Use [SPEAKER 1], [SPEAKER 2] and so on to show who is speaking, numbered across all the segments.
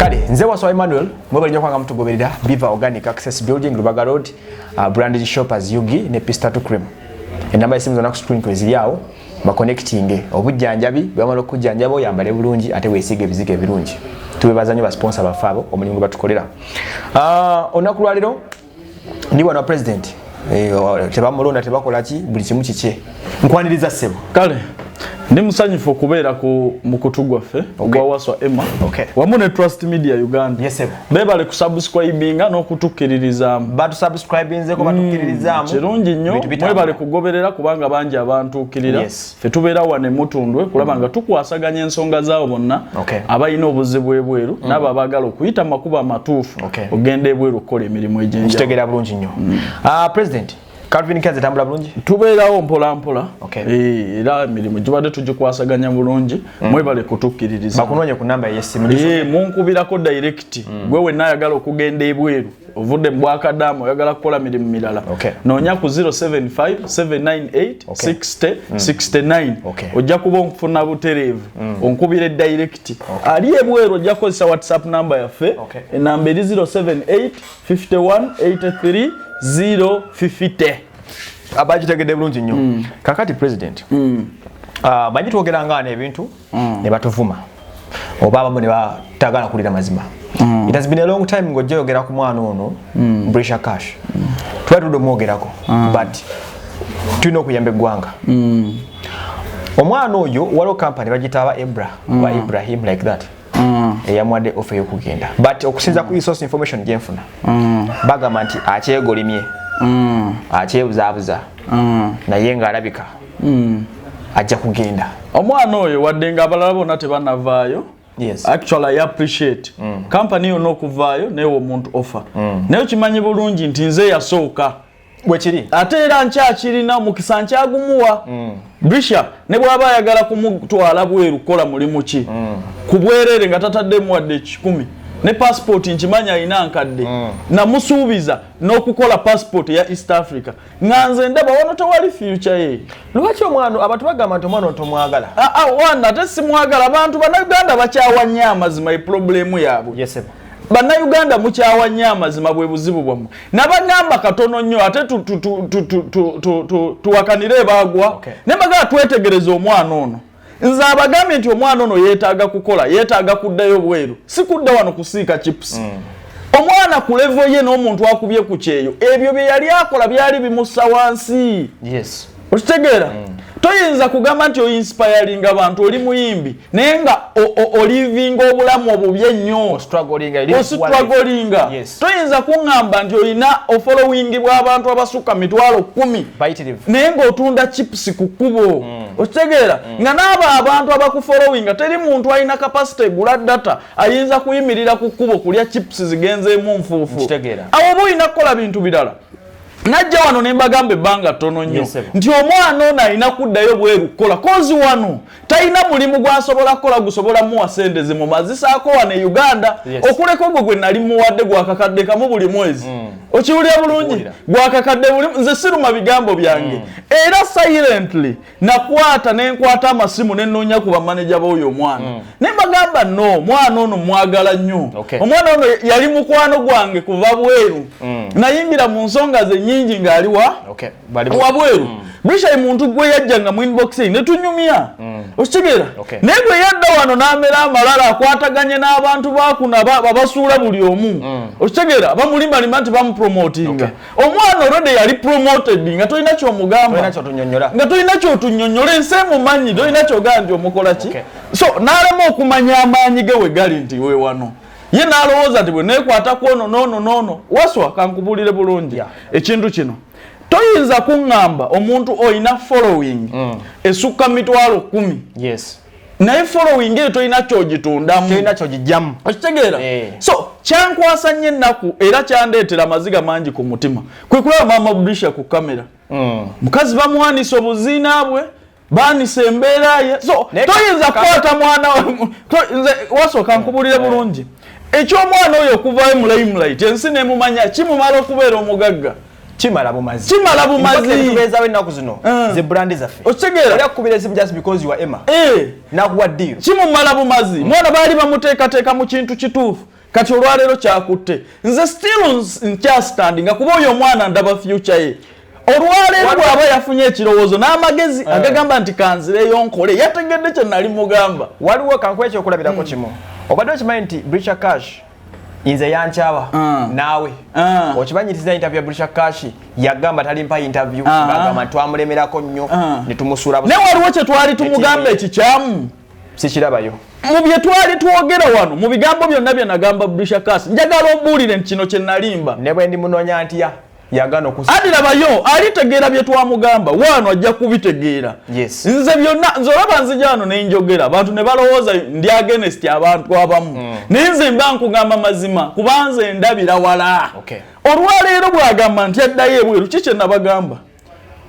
[SPEAKER 1] kale nze waswa emmanuel mwebalinyo kwanga mutugoberera biva organic access building lubaga road uh, branded shoppers ug ne pistatu cream enamba esimu zona ku screen kweziri awo bakonectinge obujjanjabi bwamala okujjanjaba oyambale bulungi ate weesiiga ebizigo ebirungi tubebaza nyo basponsa baffe abo omulimu gwe batukolera uh, olunaku lwalero ndi wana president eh, tebamulonda tebakola ki buli kimu kikye nkwaniriza ssebo kale
[SPEAKER 2] ndi musanyufu okubeera ku mukutu gwaffe ogwa okay. waswa emma okay. wamu ne trust media uganda yes, bebale kusubscribinga n'okutukkiririzaamu batusubscribinzeko
[SPEAKER 1] batukiririzaamu mm, kirungi nnyo
[SPEAKER 2] mwebale kugoberera kubanga bangi abantuukirira yes. ffe tubeera wano emutundwe kulaba mm. nga tukwasaganya ensonga zaabo bonna okay. abalina obuzibu ebweru mm. naabo abaagala okuyita mu makubo amatuufu okay. okugenda ebweru okukola emirimu egyenjkitegeera bulungi nnyo mm.
[SPEAKER 1] uh, president Calvin Kaze tambula bulungi tubeerawo mpola mpola
[SPEAKER 2] okay. e, era emirimu gibadde tugikwasaganya bulungi mm. mwebale kutukkiririza bakunoonya ku namba yesimu
[SPEAKER 1] e, munkubirako
[SPEAKER 2] direct mm. gwe wenna ayagala okugenda ebweru ovudde mu bwakadaama oyagala kukola mirimu mirala noonya ku 0757986069 mm. ojja kuba onkufuna butereevu mm. onkubira edirekiti ali ebweru ojja kukozesa whatsapp namba yaffe enamba eri 0785183050
[SPEAKER 1] abakitegedde bulungi nnyo mm. kakati president ah, bangi twogeranga nebintu mm. ne batuvuma oba abamu ne batagala kulira mazima mm. it has been a long time ngo joyogera ku mwana ono mm. Brisha Cash mm. tuba tudo mwogerako mm. but tulina okuyamba eggwanga mm. omwana oyo waliwo kampani bagitaaba ebra mm. wa ibrahim like that mm. eyamwadde ofe eyokugenda but okusinza mm. ku resource information gyenfuna mm. bagamba nti akyegolimye mm. akyebuzaabuza mm. naye ng'alabika mm. ajja kugenda omwana oyo wadde
[SPEAKER 2] nga abalala bonna tebanavaayo yes. actually i appreciate mm. company yonna okuvaayo newe omuntu offer mm. naye okimanyi bulungi nti nze yasooka bwekiri
[SPEAKER 1] ate era
[SPEAKER 2] nkyakirina omukisa nkyagumuwa mm. brisha ne bwaba ayagala kumutwala bweru kukola mulimu ki mm. ku bwerere nga tataddemu wadde ekikumi ne passport nkimanyi alina nkadde mm. namusuubiza n'okukola passport eya east africa nga nze ndaba wano tewali fyuca ye lwaki omwana abantu
[SPEAKER 1] bagamba nti omwana otomwagala ah, ah, wana ate
[SPEAKER 2] simwagala abantu banauganda bakyawa nnyo amazima eproblemu yaabwe bannayuganda mukyawa nnyo amazima bwe buzibu bwammwe nabagamba katono nnyo ate tuwakanire ebagwa naye bagala twetegereza omwana ono nze abagambye nti omwana ono yetaaga kukola yetaaga kuddayo bweru si kudda wano kusiika chips mm. omwana ku levo ye n'omuntu akubye ku kyeyo ebyo bye yali akola byali bimussa wansi yes. okitegeera mm. toyinza kugamba nti oinspiringa abantu oli muyimbi naye nga olivinga obulamu obubi ennyo ositwagolinga toyinza kuŋŋamba nti olina ofolowingi bw'abantu abasukka mitwalo kumi naye ng'otunda chipusi ku kkubo mm. okitegeera mm. nga naabo abantu abakufolowinga teri muntu alina kapasite egula data ayinza kuyimirira ku kkubo kulya chips zigenzeemu nfuufu awo oba olina kukola bintu birala najja wano ne mbagamba ebbanga ttono nnyo nti omwana ono alina kuddayo bweru kukola kozi wano talina mulimu gwasobola kukola gusobola muwa sente zimumazisaako wano e uganda okuleka ogwo gwe nali muwadde gwakakadde kamu buli mwezi mm. okiwulira bulungi gwakakadde buli nze siruma bigambo byange mm. era silently nakwata nenkwata amasimu nenoonya ku bamaneja baoyo omwana mm. ne mbagamba no mwana ono mwagala nnyo omwana ono yali mukwano gwange kuva bweru mm. nayimbira mu nsonga ze nyingi ng'aliwa wabweru mm. bishai muntu gwe yajja nga mu inbox ne tunyumya mm. okitegera naye bwe yadda wano n'amera amalala akwataganye n'abantu bakuna abasuula buli omu mm. okitegera bamulimbalima nti bamupromotinga omwana olwedde yali promoted nga tolina kyomugamba nga tolina kyotunyonyola ensi emumanyi tolina kyogaa nti omukola ki so n'alema okumanya amaanyi ge we gali nti we wano ye n'alowooza nti bwe neekwata kwono noono noono waswa kankubulire bulungi ekintu kino toyinza kuŋŋamba omuntu olina following mm. esukka mu mitwalo kumi naye following eyo tolina kyogitundamuogijamu okitegeera eh. so kyankwasa nnyo ennaku era kyandeetera amaziga mangi ku mutima kwe kulaba maama budisha ku kamera mm. mukazi bamuwanisa obuziina bwe baanise embeera ye so toyinza kukwata mwana nze wasooka eh, nkubulire eh. bulungi eky'omwana oyo okuvayo mulayimulaiti ensi nemumanya kimumala okubeera omugagga kimala bumazi
[SPEAKER 1] kimala bumazi
[SPEAKER 2] tubezawo ennaku zino
[SPEAKER 1] eh. ze brand zaffe okitegeera oli akukubira esimu
[SPEAKER 2] just because
[SPEAKER 1] you are emma eh. nakuwa
[SPEAKER 2] deal
[SPEAKER 1] kimumala
[SPEAKER 2] bumazi
[SPEAKER 1] mm.
[SPEAKER 2] mwana baali bamuteekateeka
[SPEAKER 1] mu
[SPEAKER 2] kintu
[SPEAKER 1] kituufu
[SPEAKER 2] kati olwaleero kyakutte nze still nkyastandinga kuba oyo omwana ndaba future ye olwaleero bwaba yafunye ekirowoozo n'amagezi eh. agagamba nti kanzireyo nkole yategedde kye nali mugamba waliwo kankuba
[SPEAKER 1] ekyokulabirako hmm. kimu obadde okimanyi nti bricha cash nze yankyawa ah. naawe ah. okibanyiriza interview ya bricha cash yagamba talimpa interview ah. agamba twamulemerako nnyo ne tumusuula naye waliwo kye twali
[SPEAKER 2] tumugamba ekikyamu e sikirabayo
[SPEAKER 1] mu bye twali
[SPEAKER 2] twogera wano mu bigambo byonna bye nagamba brisha kas njagala ombuulire nti kino kye nalimba ne bwe ndi munoonya
[SPEAKER 1] ntya yagana okusa adi labayo alitegeera
[SPEAKER 2] bye twamugamba waano ajja kubitegeera yes. nze byonna nze olaba nzija wano ne njogera abantu ne balowooza ndi agenesti abantu abamu mm. naye nze mba nkugamba mazima kubanze ndabira wala okay. olwaleero bwagamba nti addayo ebweru ki kye nabagamba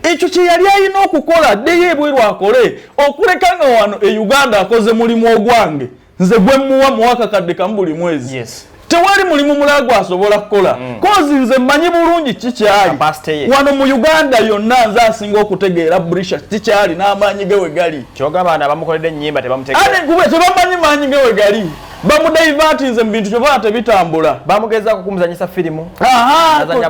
[SPEAKER 2] ekyo kye yali alina okukola addeyo ebweru akole okuleka nga wano e uganda akoze mulimu ogwange nze gwe muwa muwakakadde kamu buli mwezi yes. tewali mulimu mulala gwasobola kukola mm. kozi nze mmanyi bulungi kikyali wano mu uganda yonna nze asinga okutegeera brisha kikyali n'amaanyi ge we gali
[SPEAKER 1] tebamanyi
[SPEAKER 2] maanyi ge we gali bamudaivatinze mubintu kyobaa tebitambula bamugezaako kumuzanyisa
[SPEAKER 1] firimu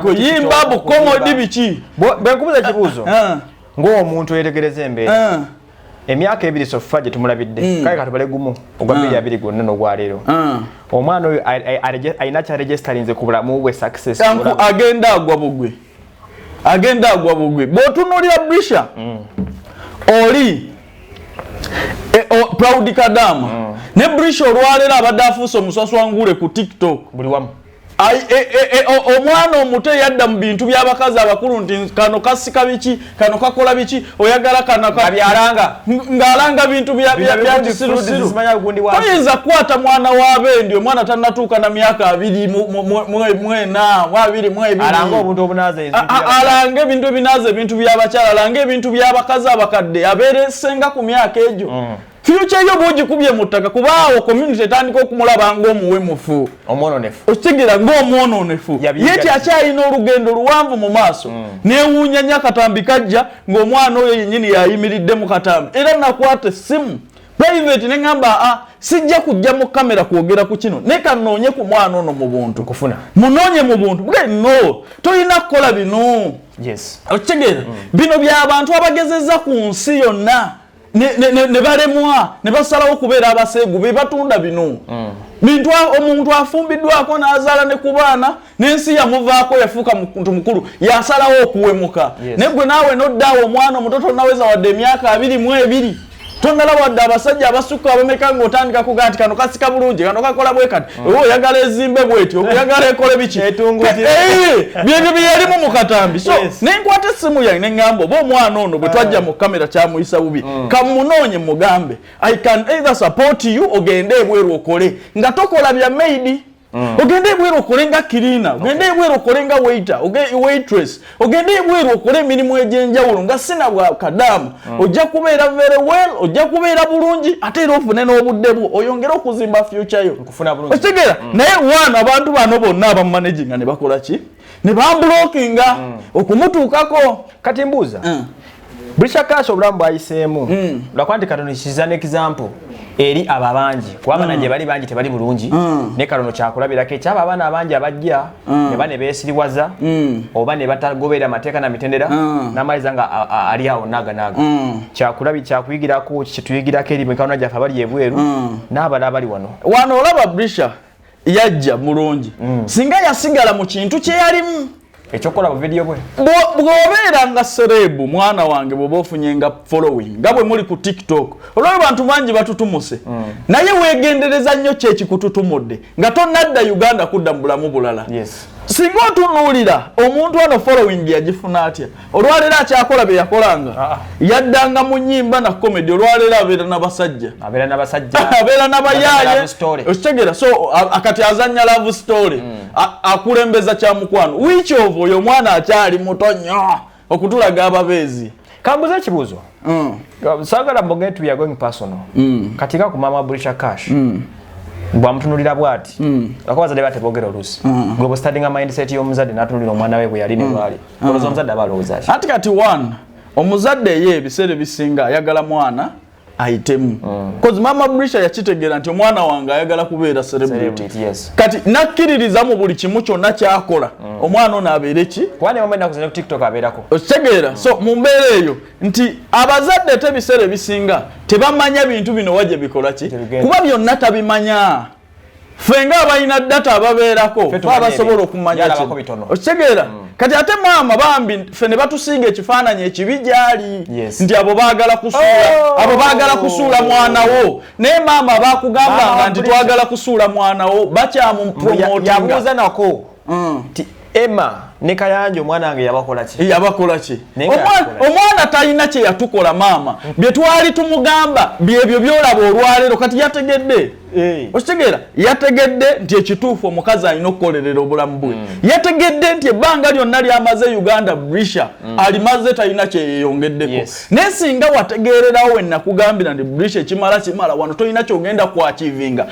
[SPEAKER 1] kuyimba
[SPEAKER 2] bukomodi biki bwenkubuza ekibuuzo
[SPEAKER 1] ah. ngaomuntu eyetegereza embeera ah. emyaka ebiri sofa gyetumulabidde hmm. kale katubale gumu ogwa biri ah. abiri gwonna nogwaleero omwana oyo alina kyaregisterinze ku bulamu bwe success agenda agwa
[SPEAKER 2] bugwe agenda agwa bugwi bwotunulira brisha mm. oli e, o, proud kadama mm. ne brisha olwalero abadde afuuse omuswaswangule ku tiktok buli wamu
[SPEAKER 1] E, e, e, omwana
[SPEAKER 2] omuto eyadda mu bintu by'abakazi abakulu nti kano kasika biki kano kakola biki oyagala kanabyalanga
[SPEAKER 1] ng'alanga bintu
[SPEAKER 2] byakisirusirutoyinza kukwata mwana wabendi omwana tanatuuka na myaka abiri mwena mwabiri mwebirialange
[SPEAKER 1] ebintu
[SPEAKER 2] ebinaaza ebintu byabakyala alange ebintu byabakazi abakadde abeere senga ku myaka egyo mm. Future yo bwogikubye mu ttaka kuba awo community etandika okumulaba ng'omuwemufu okitegeera ng'omwononefu ye kyakyalina olugendo luwanvu mu maaso mm. newuunya nyo akatambi kajja ng'omwana oyo yennyini yayimiridde mu katambi era nakwata essimu private ne ŋamba a ah, sijja kujja mu kamera kwogera ku kino naye kanoonye ku mwana ono mu buntu kufuna munoonye mu
[SPEAKER 1] buntu
[SPEAKER 2] bwe no tolina kukola bino okitegeera mm. bino by'abantu abagezezza ku nsi yonna ne balemwa ne basalawo okubeera abaseegu be batunda bino mm. bintu omuntu afumbiddwako n'azaala ne ku baana n'ensi yamuvaako yafuuka muntu mukulu yasalawo okuwemuka naye gwe naawe noddaawo omwana omuto tonaweza wadde emyaka abiri mu ebiri tonala wadde abasajja abasukka abameka ng'otandika kuga nti kano kasika bulungi kano kakola bwe kati oba mm. oyagala ezimbe bwetyo oyagala ekole biki eh, eh, byebyo byeyalimu mu katambi so nenkwata essimu yange neŋŋamba oba omwana ono bwe twajja mu kamera kyamuyisa bubi mm. kamunoonye mugambe i can either support you ogende ebweru okole nga tokola bya maidi Mm. ogende ebweru okole nga kirina ogende ebweru okole nga waiter waitress ogende ebweru okole emirimu egyenjawulo nga sina bwa kadaama mm. ojja kubeera very well ojja kubeera bulungi ate era ofune n'obudde bwo oyongere okuzimba future yo okitegeera mm. naye waano abantu bano bonna abamumanaginga ne bakola ki ne bambulokinga mm. okumutuukako kati mbuuza
[SPEAKER 1] Brisha Cash obulamu bwayiseemu mm. lwakuba nti katono kiza ne example eri abo abangi kuba abana mm. gye bali bangi tebali bulungi mm. ne katono kyakulabirako ekyabo abaana abangi abajja mm. ne ba ne beesiriwaza mm. oba ne batagoberera amateeka na mitendera mm. n'amaliza nga ali awo naaganaaga mm. kyakulabi kyakuyigirako kituyigirako eri mikawona gyaffe abali ebweru mm. n'abala abali wano wano olaba Brisha
[SPEAKER 2] yajja mulungi mm. singa yasigala mu kintu kye yalimu ekyokukola buvidiyo
[SPEAKER 1] bwe bw'obeera nga
[SPEAKER 2] sereebu mwana wange bw'oba ofunye nga following nga bwe muli ku tiktok olwali bantu bangi batutumuse mm. naye weegendereza nnyo ki ekikututumudde nga tonnadda uganda kudda mu bulamu bulala singa otunuulira omuntu ano following yagifuna atya olwaleero akyakola byeyakolanga ah, ah. yaddanga mu nyimba na comedy olwaleero abeera nabasajja abeera nabasajja abeera nabayaye okitegera so akati azanya love story mm. akulembeza kyamukwano wiiki ovo oyo omwana akyali muto nyo okutulaga ababeezi kambuza ekibuuzo
[SPEAKER 1] mm. sagala mboge nti weare going personal mm. kati ka ku mama brisha cash mm. bwamutunulira bwati mm. akubaza deba tebogera olusi mm. gwe bustadinga mindset y'omuzadde natunulira omwana we bwe yali ne mm. lwali mm. olowooza omuzadde aba alowooza ki anti
[SPEAKER 2] kati
[SPEAKER 1] one
[SPEAKER 2] omuzadde ye ebiseera
[SPEAKER 1] ebisinga
[SPEAKER 2] ayagala mwana ayitemu kozi mm. maama brisha yakitegeera nti omwana wange ayagala kubeera celebrity yes. kati
[SPEAKER 1] nakkiririza
[SPEAKER 2] mu buli kimu kyonna kyakola mm. omwana ono abeere ki
[SPEAKER 1] okitegeera mm. so mu
[SPEAKER 2] mbeera eyo nti abazadde te ebiseera ebisinga tebamanya bintu bino wa gye bikola ki kuba byonna tabimanya ffe nga abalina data ababeerako babasobola okumanya okitegeera mm. kati ate maama bambi ffe ne batusinga ekifaananyi ekibi gyali nti abo bagala kusuula oh! abo bagala kusuula mwana wo naye maama bakugambanga nti twagala kusuula mwana wo bakyamupromotinga
[SPEAKER 1] mm. ti Emma ne Kayanja omwana wange yabakola ki? Yabakola ki?
[SPEAKER 2] Omwana talina kye yatukola maama. Mm. Bye twali tumugamba byebyo byolaba olwalero kati yategedde. Hey. Eh. Okitegeera yategedde nti ekituufu omukazi alina okukolerera obulamu bwe. Mm. Yategedde nti ebbanga lyonna lyamaze Uganda Brisha mm. alimaze talina kye yeeyongeddeko. Yes. Naye singa wategeererawo we nakugambira nti Brisha ekimala kimala wano tolina kyogenda kwakivinga.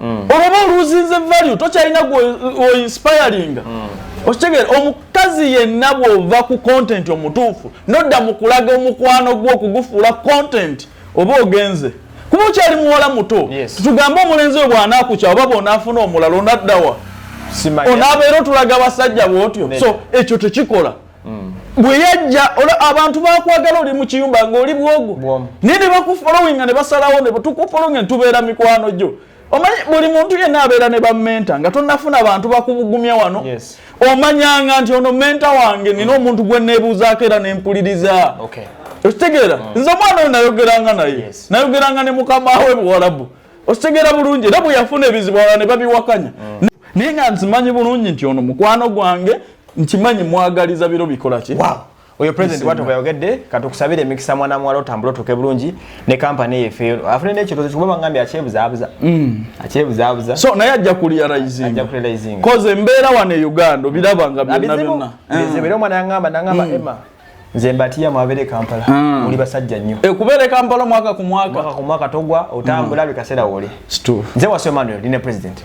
[SPEAKER 2] mm. olwoba oluzinze value tokyalina oinspiringa mm. okitegeera omukazi yenna bwova ku content omutuufu nodda mu kulaga omukwano gwo okugufuula content oba ogenze kuba okyali muwala muto tugambe omulenzi we bwanakukya oba bwonaafuna omulala onaddawa onaabeera otulaga basajja bwotyo so ekyo tekikola mm. bwe yajja abantu bakwagala oli mu kiyumba ng'oli bwogu naye ne bakufolowinga ne basalawo ne tukufolowinga ne tubeera mikwano gyo omanyi buli muntu yenna abeera ne bamenta nga tonafuna bantu bakubugumya wano yes. omanyanga nti ono menta wange nina mm. omuntu gwe nebuuzaako era nempuliriza okay. okitegeera mm. nze omwana oyo nayogeranga naye yes. nayogeranga ne mukama we buwalabu okitegeera bulungi era bweyafuna ebizibu ala ne babiwakanya mm. naye nga nzimanyi bulungi nti ono mukwano gwange nkimanyi mwagaliza biro bikolaki oyo president
[SPEAKER 1] watu bayogedde katukusabire emikisa mwana muwala otambula otuuke bulungi ne kampani eyo efeero afune nekiroozo kikuba bangambye akyebuzaabuza mm. akyebuzaabuza so naye ajja
[SPEAKER 2] kuliaraizingakoze embeera wano e uganda obiraba nga byonna byonna eh. era omwana yangamba
[SPEAKER 1] nangamba mm. emma nze mbatiya mwabere kampala mm. muli basajja nnyo e kubere kampala mwaka
[SPEAKER 2] ku mwaka
[SPEAKER 1] mwaka ku
[SPEAKER 2] mwaka
[SPEAKER 1] togwa otambula
[SPEAKER 2] mm.
[SPEAKER 1] bikasera wole stu
[SPEAKER 2] nze
[SPEAKER 1] wa Emmanuel line
[SPEAKER 2] president